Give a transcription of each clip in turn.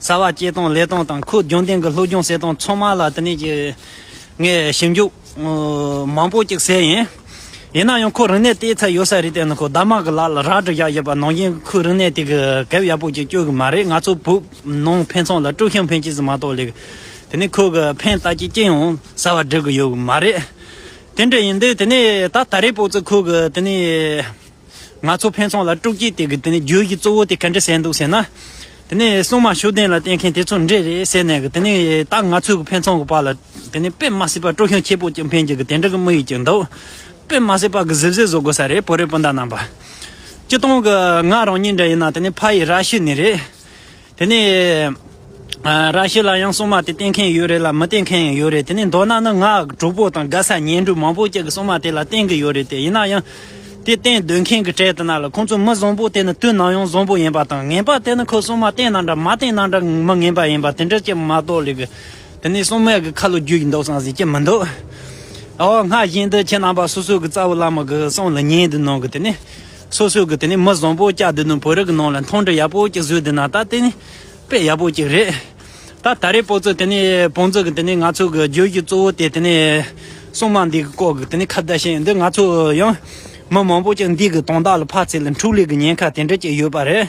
རྩ་བ་སྐྱེལ་སྟངས་ལས་སྟངས་དང་ཁུལ་རྒྱུན་ལྡན་གྱི་སློབ་སྦྱོང་གསལ་སྟངས་ཚང་མ་ལ་དེ་ནས་ཀྱི་ངས་ཞིབ་འཇུག་མང་པོ་ཅིག་བྱས་ཡིན། ཡིན་ན་ཡང་ཁོ་རིག་གནས་དེའི་ཚད་ཡོད་ས་རེད་བལྟས་ན་ཁོ་རྡ་མ་གི་ལག་ལ་རག་བྲིས་བཞག་ཡོད་པ་ནང་བཞིན་ཁོའི་རིག་གནས་དེ་གི་གེབ་ཡག་པོ་ཅིག་བསྐྱོད་གི་མ་རེད་ང་ཚོ་བོད་ནང་ཕན་ཚང་ལ་དཀྲུག་ཤིང་ཕན་སྐྱིད་ཟིག་མ་གཏོགས་ལེགས། དེ་ནས་ཁོ་གི་ཕན་བཏགས་ཀྱི་སྐྱིད་ཡང་གསར་བ་འབྲི་གི་ཡོད་གི་མ་རེད། དེ་འདྲ་ཡིན་དུས་དེ་ནས་ད་ད་རེས་པོ་ཙི་ཁོ་གི་དེ་ནས། ང་ཚོ་ཕན་ཚུན་ལ་དཀྲུགས་སྐྱིད་སྟེར་གི་དེ་ནས་རྒྱུ་ཡི་གཙོ་བོ་དེ་ག་འདྲ་བྱས་འདུག་ཟེར་ན། དེ་ནས་སྲུང་མ་ཤུགས་ལྡན་ལ་བསྟེན་མཁན་དེ་ཚོ་འདྲེ་རེད་ཟེར་ནས་དེ་ནས་ད་ང་ཚོའི་ཕན་ཚུན་གྱི་བར་ལ་དེ་ནས་དཔེ་མ་སྲིད་པ་དཀྲུགས་ཤིང་ཁྱི་སྤུ་ཅན་འཕེན་གྱི་གི་དེ་འདྲ་གི་དམིགས་ཡུལ་གྱི་འདུག་དཔེ་མ་སྲིད་པ་གི་གཟིབ་གཟིབ་བཟོ་དགོས་ས་རེད་བོད་རིགས་སྤུན་ཟླ་རྣམ་པ། སྤྱི་སྟོང་གི་ང་རང་ཉིད་འདྲ་ཡིན་ན་དེ་ནས་ཕ་ཡི་ར་ཤི་ནི་རེད། དེ་ནས། ར་ཤི་ལ་ཡང་སྲུང་མ་དེ་བསྟེན་མཁན་ཡོད་རེད་ལ་མི་བསྟེན་མཁན་ཡང་ཡོད་རེད་དེ་ནས་མདོར་ན་ནི་ང་དྲུག་པོ་དང་དགའ་ས་གཉེན་སྒྲུང་མང་པོ་ཅིག་གི་སྲུང་མ་དེ་ལ་བསྟེན་གི་ཡོད་རེད་དེ་ཡིན་ན་ཡང། དེ་བསྟེན་སྡོད་མཁན་གྱི་གྲས་དེ་རྣམས་ལ་ཁོང་ཚོ་མི་བཟང་པོ་དེ་ནི་དུས་ནམ་ཡང་བཟང་པོ་ཡིན་པ་དང་ངན་པ་དེ་ནི་ཁོས་སྲུང་མ་བསྟེན་ན་འདྲ་མ་བསྟེན་ན་འདྲ་མི་ངན་པ་ཡིན་པ་དེ་འདྲ་ཅིག་མ་གཏོགས་ལེགས། དེ་ནས་སྲུང་མས་གི་ཁ་ལོ་བརྒྱུས་ཀྱི་འདུག་བསམ་ཟིན་གྱི་མི་འདུག། ཨོ་སྔར་བཞིན་དུ་ཁྱེད་རྣམ་པ་སོ་སོ་གི་རྩ་བའི་བླ་མ་གི་གསུང་ལ་ཉན་དུ་གནང་གི་དེ་ནས། སོ་སོས་གི་དེ་ནས་མི་བཟང་པོ་སྐྱག་འདི་ནི་བོད་རིགས་ནང་ལ་མཐོང་འདྲི་ཡག་པོ་ཅིག་བཟོས་འདུག་ན་ད་དེ་ནི་དཔེ་ཡག་པོ་ཅིག་རེད། ད་ད་རེས་པོ་ཚོས་དེ་ནི་བོང་ཚོ་གི་དེ་ནི་ང་ཚོ་གི་རྗོད་གཞི་གཙོ་བོ་དེ་དེ་ནི་སྲུང་མ་འདི་གི་སྐོར་གི་དེ་ནི་ཁ་བརྡ་བྱས་ཡོད་འདུག་ང་ཚོ་ཡང་མི་མང་པོ་ཅིག་འདི་གི་དོན་དག་ལ་ཕར་ཚད་ལ་འཕྲུག་ལུས་གི་ཉེན་ཁ་དེ་འདྲ་ཅིག་ཡོད་པ་རེད།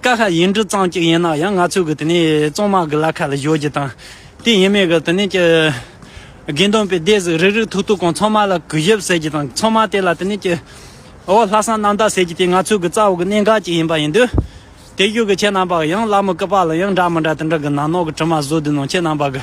ཀ་ཤ་ཡིན་འབྲུ་གཙང་གཅིག་ཡིན་ན་ཡང་ང་ཚོས་གི་དེ་ནས་གཙང་མ་གི་ལ་ཁ་ལ་བཞོ་རྒྱུ་དང། དེ་ཡིན་མེད་གི་དེ་ནས་ཀྱི། དགེ་འདུན་པའི་སྡེ་གཟིགས་རིག་རིག་ཐུག་ཐུག་གང་ཚང་མ་ལ་གུས་ཞབས་ཟེར་རྒྱུ་དང་ཚང་མ་དེ་ལ་དེ་ནས་ཀྱི། འོ་ལྷ་བསང་གནམ་བདག་ཟེར་རྒྱུ་དེ་ང་ཚོས་གི་རྩ་བ་གི་གནད་འགག་ཅིག་ཡིན་པ་ཡིན་དུས། དེ་བཞུགས་གི་ཁྱེད་རྣམ་པ་གི་ཡང་བླ་མ་སྐུ་པར་ལ་ཡང་འདྲ་མི་འདྲ་དེ་འདྲ་གི་ནང་ནོག་གི་དྲི་མ་བཟོ་དུས་ནང་ཁྱེད་རྣམ་པ་གི།